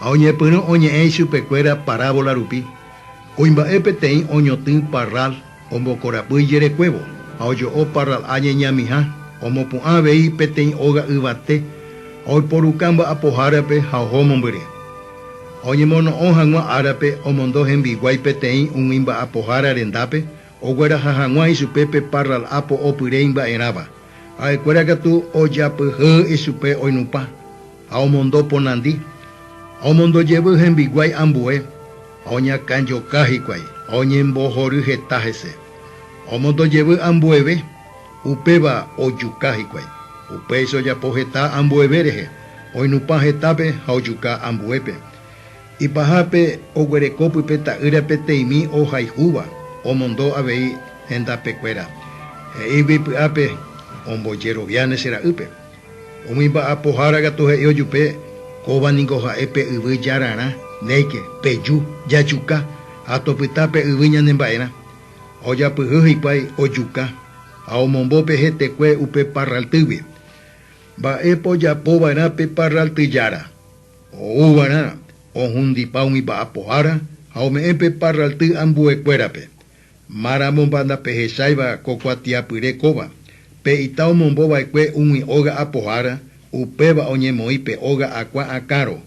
Ha oñepyrũ oñe'ẽ ichupekuéra parábola rupi, kuimba'e peteĩ oñotỹ parral ombokorapy ijerekuévo, ha ojo'o parral'a ñeñamiha, omopu'ã avei peteĩ óga yvate, ha oiporuka mba'apohárape ha oho mombyry. Ha oñemono'õ hag̃ua árape omondo hembiguái peteĩ umi mba'apohára rendápe, ogueraha hag̃ua ichupe pe parral'a po'opyre imba'erãva, ha'ekuéra katu ojapyhy ichupe oinupã. ha omondo ponandi, ha omondo jevy hembiguái ambue, ha oñakãjoka hikuái, ha oñembohory heta hese, ha omondo jevy ambueve, upéva ojuka hikuái. Upéicha ojapo heta ambueve rehe, oinupã hetápe ha ojuka ambuépe. Ipahápe oguereko pype ta'ýra peteĩmi ohayhúva, omondo avei hendapekuéra, he'ígui py'ápe, Ombojeroviáne che ra'ýpe. Umi mba'apohára katu he'i ojupe, Kóva niko ha'e pe yvy jararã, néike, peju, jajuka, ha topyta pe yvy ñanemba'erã. Ha ojapyhy hikuái ojuka, ha omombo pe hetekue upe parraltýgui. Mba'épa ojapo va'erã pe parralty jára? Ou va'erã ohundipa umi mba'apohára ha ome'ẽ pe parralty ambuekuérape. Márãmompa ndapehecháiva ko kuatiapyre kóva, pe ita omombo va'ekue umi óga apohára, upéva oñemoĩ pe óga akua akãro.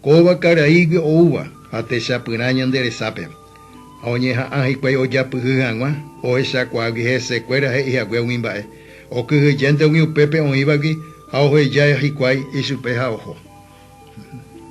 Kóva karaígui oúva ha techapyrã ñande resápe. Ha oñeha'ã hikuái ojapyhy hag̃ua ohechakuaágui hesekuéra he'i hague umi mba'e, okyhyjénte umi upépe oĩvagui ha oheja hikuái ichupe ha oho.